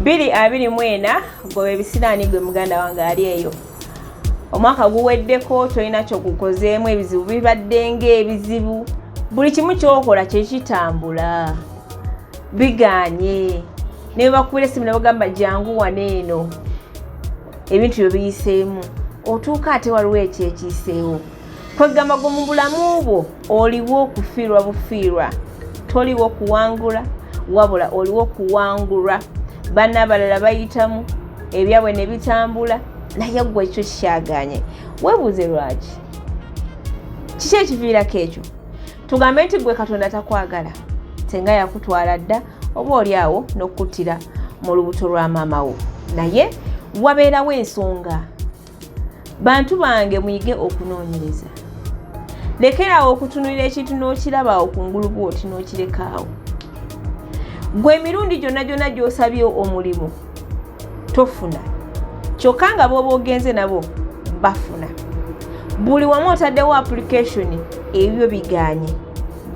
biri abiri mu ena goba ebisiraani gwe muganda wange ali eyo omwaka guweddeko tolina kyokukozeemu ebizibu bibadde ngaebizibu buli kimu kyokola kyekitambula biganye nebakubira esimu nebagamba jangu wana eno ebintu byo biyiseemu otuuka ate waliwo ekyekiiseewo kwegamba gwe mu bulamu bwo oliwo okufiirwa bufiirwa toliwo kuwangula wabula oliwo kuwangulwa bana abalala bayitamu ebyabwe ne bitambula naye gwe ekyo kikyaganye webuuze lwaki kiki ekiviirako ekyo tugambe nti gwe katonda takwagala senga yakutwala dda oba oli awo n'okukuttira mu lubuto lwa maama wo naye wabeerawo ensonga bantu bange muyige okunoonyereza lekeraawo okutunulira ekintu n'okirabaawo ku ngulu bwoti n'okirekaawo gwe emirundi gyonna gyonna gy'osabye omulimu tofuna kyokka nga booba ogenze nabo bafuna buli wamu otaddewo application ebyo biganye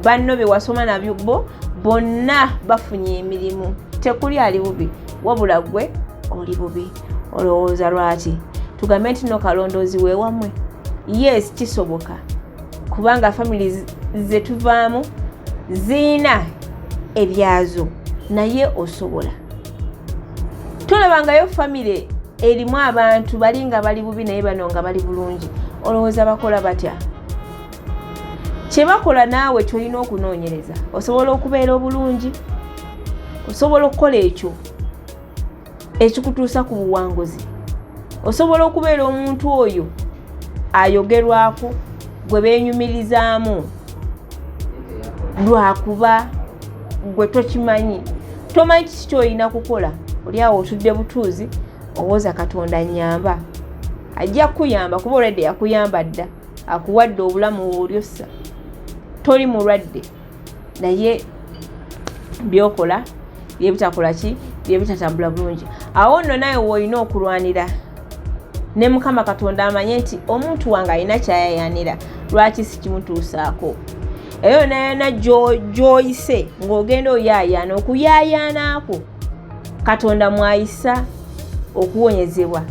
banno bye wasoma nabyo bo bonna bafunye emirimu tekuli ali bubi wabula gwe oli bubi olowooza lwaki tugambe nti no kalondoozi wewamwe yes kisoboka kubanga famili zetuvaamu ziina ebyazo naye osobola tolabangayo famile erimu abantu bali nga bali bubi naye bano nga bali bulungi olowooza bakola batya kyebakola naawe kyolina okunoonyereza osobola okubeera obulungi osobola okukola ekyo ekikutuusa ku buwanguzi osobola okubeera omuntu oyo ayogerwako gwe benyumirizaamu lwakuba gwe tokimanyi tomanyi kiki kyolina kukola oli awo otudde butuuzi owooza katonda nyamba ajja kukuyamba kuba olwedde yakuyamba dda akuwadde obulamu woolyossa toli mulwadde naye byokola byebitakola ki byebitatambula bulungi awo nno naye woolina okulwanira ne mukama katonda amanye nti omuntu wange alina kyayayanira lwaki sikimutuusaako eyo yona yona gyoyise ng'ogenda oyayaana okuyayaanaako katonda mwayisa okuwonyezebwa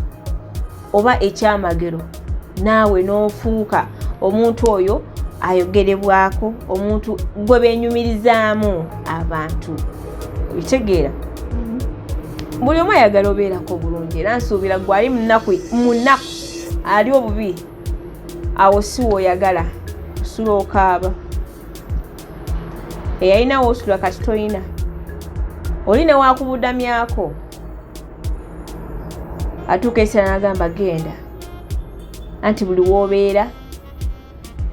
oba ekyamagero naawe n'ofuuka omuntu oyo ayogerebwako omuntu gwe benyumirizaamu abantu ekitegeera mm-hmm. buli omu ayagala obeerako bulungi era nsuubira gwe ali munaku munaku ali obubi awo si woyagala osula okaaba eyalinawo osula kati tolina oli newakubudamyako atuuka esira n'agamba genda anti buli w'obeera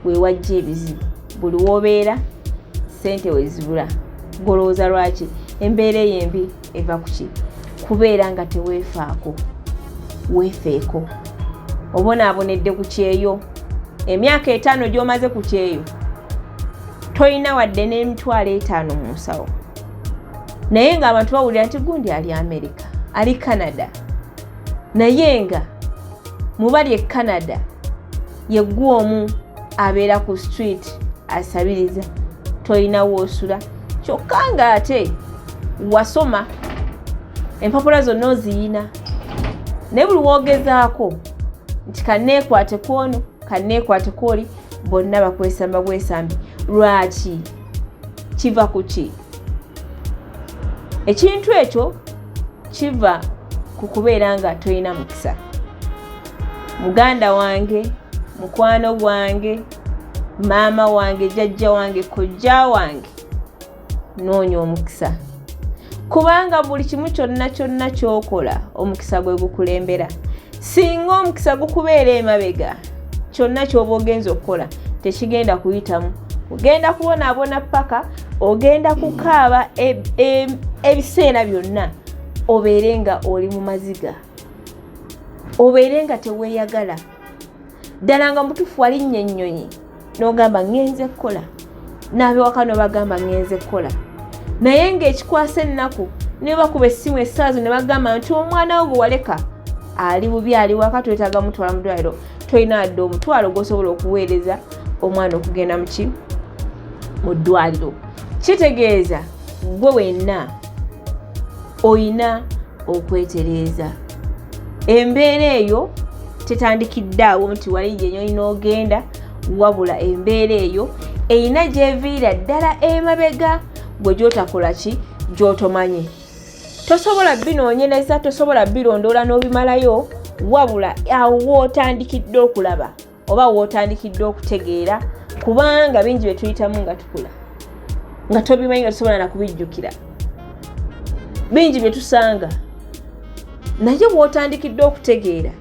wewajja ebizibu buli w'obeera sente wezibula golowooza lwaki embeera eyo embi eva kuki kubeera nga teweefaako weefeeko obonaabonedde ku kyeyo emyaka etaano gy'omaze ku kyeyo tolina wadde n'emitwalo etaano mu nsawo naye nga abantu bawulira nti gundi ali america ali canada naye nga mubali e canada yeggwa omu abeera ku street asabiriza tolina woosula kyokka nga ate wasoma empapula zonna oziyina naye buli woogezaako nti kanneekwate kwono kanneekwate kwoli bonna bakwesamba bwesambi lwaki kiva ku ki ekintu ekyo kiva ku kubeera nga tolina mukisa muganda wange mukwano gwange maama wange jajja wange kojja wange noonya omukisa kubanga buli kimu kyonna kyonna kyokola omukisa gwe gukulembera singa omukisa gukubeera emabega kyonna kyoba ogenza okukola tekigenda kuyitamu ogenda kubonaabona paka ogenda kukaaba e, e, ebiseera byonna obeere nga oli mu maziga obeere nga teweeyagala ddala nga mutufu walinnya ennyonyi n'ogamba ŋŋenze kukola n'abewaka n'obagamba ŋŋenze kukola naye ng'ekikwasa ennaku niwe bakuba essimu essaawa zo ne bagamba nti omwana wo gwe waleka ali bubi ali waka twetaaga mutwala mu ddwaliro tolina adde omutwalo gwosobola okuweereza omwana okugenda muki mu ddwaliro kitegeeza gwe wenna olina okwetereeza embeera eyo tetandikidde awo nti wali gyenyoli n'ogenda wabula embeera eyo erina gyeviira ddala emabega gwe gyotakola ki gyotomanye tosobola binoonyereza tosobola birondoola n'obimalayo wabula awo wootandikidde okulaba oba wotandikidde okutegeera kubanga bingi bye tuyitamu nga tukula nga tobimanyi nga tusobola nakubijjukira bingi bye tusanga naye bwotandikidde okutegeera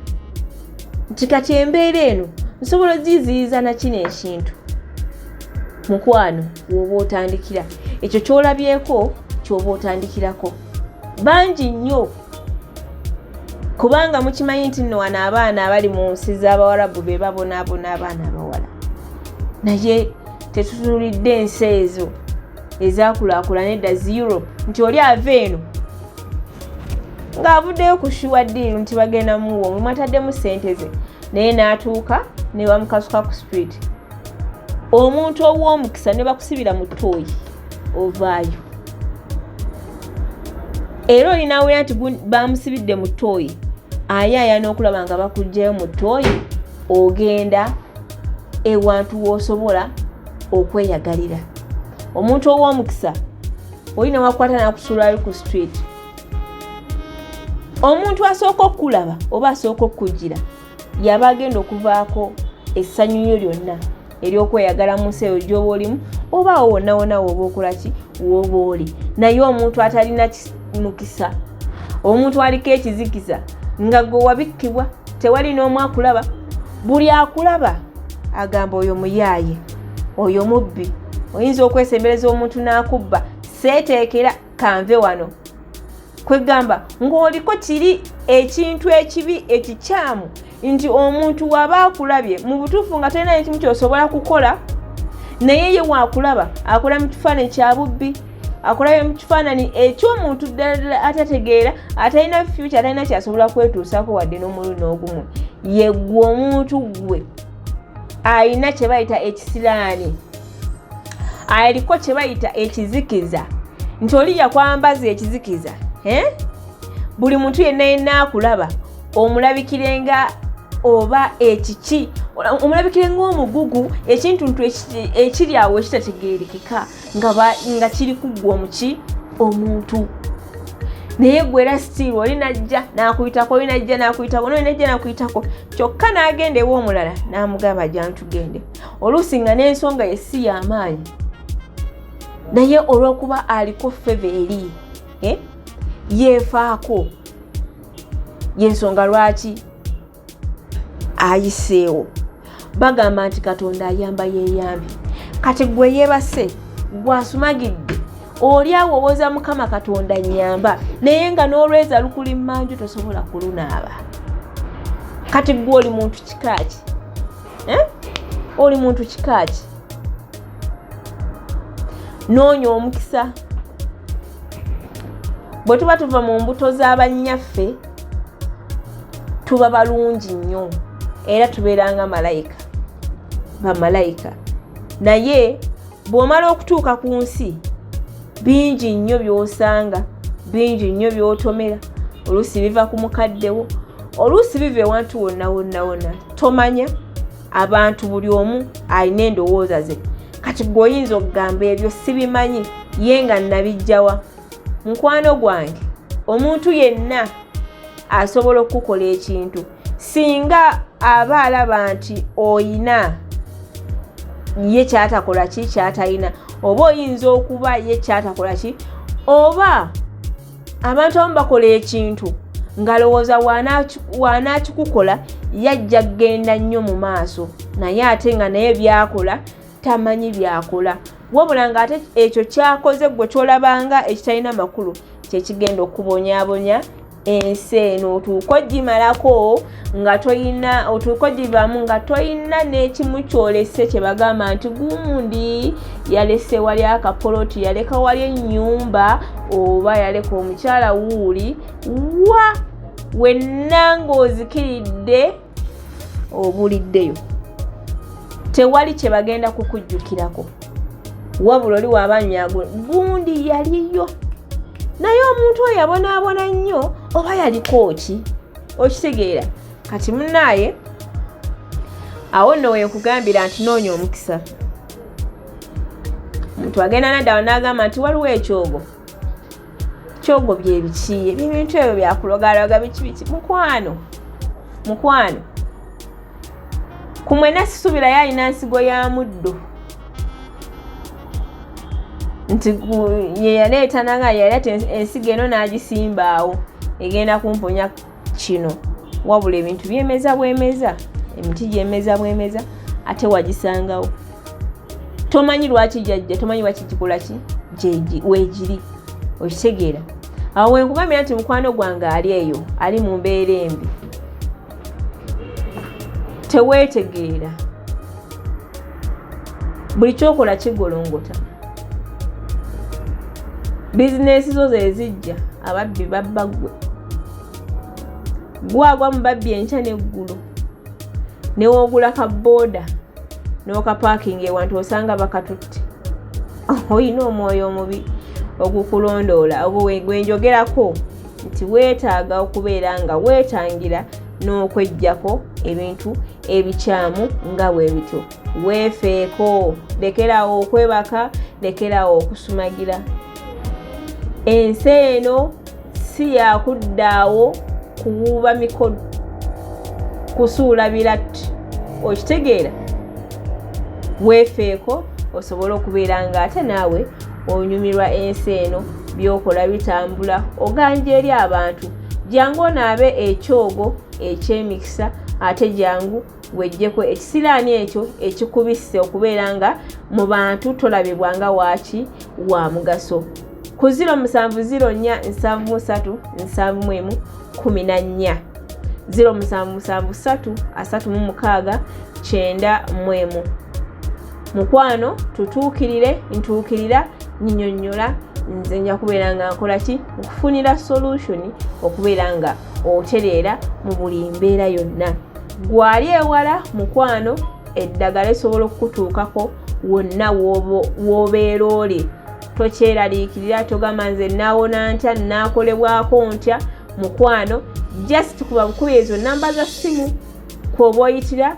nti kati embeera eno nsobola ogiziyiza nakino ekintu mukwano woba otandikira ekyo kyolabyeko kyoba otandikirako bangi nnyo kubanga mukimanyi nti nno wano abaana abali mu nsi z'abawarabu be babonaabona abaana abawala naye tetutunulidde ensi ezo ezakulaakulana edda zi europe nti oli ava eno ng'avuddeyo ku shuwa diiru nti bagenda muwo mwe mwataddemu ssente ze naye n'atuuka ne bamukasuka ku street omuntu ow'omukisa ne bakusibira mu tooyi ovaayo era olina awulira nti bamusibidde mu tooyi ayaaya n'okulaba nga bakugjayo mu tooyi ogenda ewantu woosobola okweyagalira omuntu ow'omukisa olina wakwata nakusuulayo ku street omuntu asooka okukulaba oba asooka okukujjira yaba agenda okuvaako essanyu lyo lyonna eryokweyagala mu nsi eyo gyoba olimu oba awo wonnawona woba okola ki woba oli naye omuntu atalina mukisa omuntu aliko ekizikiza nga gwe wabikkibwa tewali n'omu akulaba buli akulaba agamba oyo muyaaye oyo mubbi oyinza okwesembereza omuntu n'akubba seeteekera kanve wano kwegamba ng'oliko kiri ekintu ekibi ekikyamu nti omuntu waba akulabye mu butuufu nga talina nekimu kyosobola kukola naye ye waakulaba akola mu kifaananyi kya bubbi akulabye mu kifaananyi eky'omuntu ddala atategeera atalina fyuki atalina kyasobola kwetuusako wadde n'omulundi n'ogumu yeggwe omuntu ggwe alina kye bayita ekisiraani aliko kye bayita ekizikiza nti oli yakwambaza ekizikiza eh? buli muntu yenna yenna akulaba omulabikirenga oba ekiki omulabikire ngaomugugu ekintuntu ekiri awo ekitategerekeka nga kiri kuggwa omuki omuntu naye gwe era sitiiru oli najja nakuyitako oli najja nakuyitako noli najja nakuyitako kyokka n'agenda ewa omulala n'amugamba jantu gende oluusi nga n'ensonga ye si y'amaanyi naye olw'okuba aliko feva eri eh, yeefaako y'ensonga lwaki ayiseewo bagamba nti katonda ayamba yeeyambi kati gwe yeebase gwasumagidde oli awo owoza mukama katonda nyamba naye nga n'olweza lukuli manju tosobola kulunaaba kati gwe oli muntu kikaaki eh? oli muntu kikaaki noonya omukisa bwe tuba tuva mu mbuto z'abannyaffe tuba balungi nnyo era tubeeranga malayika bamalayika naye bw'omala okutuuka ku nsi bingi nnyo by'osanga bingi nnyo by'otomera oluusi biva ku mukaddewo oluusi biva ewantu wonna wonna wonna tomanya abantu buli omu alina endowooza ze kati gwe oyinza okugamba ebyo sibimanyi ye nga nabijjawa mukwano gwange omuntu yenna asobola okukukola ekintu singa aba alaba nti oyina ye kyatakola ki kyatalina oba oyinza okuba ye kyatakola ki oba abantu abamu bakola ekintu ngalowooza waanaakikukola yajja kugenda nnyo mu maaso naye ate nga naye byakola tamanyi byakola wabula ng'ate ekyo kyakoze gwe kyolabanga ekitalina makulu kyekigenda okubonyabonya ensi eno otuuka ogimalako nga toyina otuuka ogivamu nga toyina n'ekimu kyolese kye bagamba nti gundi yalese wali akapoloti yaleka wali ennyumba oba yaleka omukyala wuuli wa wenna ng'ozikiridde obuliddeyo tewali kye bagenda kukujjukirako wabula oli wabanyago gundi yaliyo naye omuntu oyo yabonaabona nnyo oba yaliko ki okitegeera kati munaaye awo nno wenkugambira nti noonya omukisa omuntu agenda nadawa n'agamba nti waliwo ekyogo kyogo byebiki ebintu ebyo byakulogaloga biki biki mukwano mukwano kumwena sisubirayo alina nsigo ya muddo nti yeyaleeta nanga yali ati ensigo eno n'agisimbaawo egenda kumponya kino wabula ebintu byemeza bwemeza emiti gyemeza bwemeza ate wagisangawo tomanyi lwaki jajja tomanyi lwaki kikola ki wegiri okitegeera awo wenkugambira nti mukwano gwange ali eyo ali mu mbeera embi teweetegeera buli kyokola kigolongota bizinesi zo zezijja ababbi babba gwe gwagwa mu babbi enkya neggulu newogula ka booda n'okapaakinga ewantu osanga bakatutte olina omwoyo omubi ogukulondoola ogwo gwenjogerako nti weetaaga okubeera nga weetangira n'okwejjako ebintu ebikyamu nga bwe bityo weefeeko lekeraawo okwebaka lekeraawo okusumagira ensi eno si yakuddaawo kuwuuba mikono kusuula biratti okitegeera weefeeko osobole okubeera ng'ate naawe onyumirwa ensi eno byokola bitambula oganja eri abantu jangu onaabe ekyogo ekyemikisa ate jangu wejjeko ekisiraani ekyo ekikubisse okubeera nga mu bantu tolabibwa nga waaki wa mugaso ku 07047374 0773 36 9 mukwano tutuukirire ntuukirira nyinyonnyola nze nja kubeera nga nkola ki okufunira solution okubeera nga otereera mu buli mbeera yonna gwali ewala mukwano eddagala esobola okukutuukako wonna w'obeera oli tokyeraliikirira togamba nze naawona ntya naakolebwako ntya mukwano just kuba bukubi ezo namba za ssimu kwoba oyitira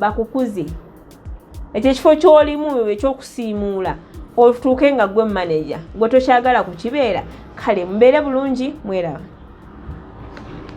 bakukuze ekyo ekifo kyolimu ekyokusiimuula otuuke nga gwe maneja gwe tokyagala kukibeera kale mubeere bulungi mweraba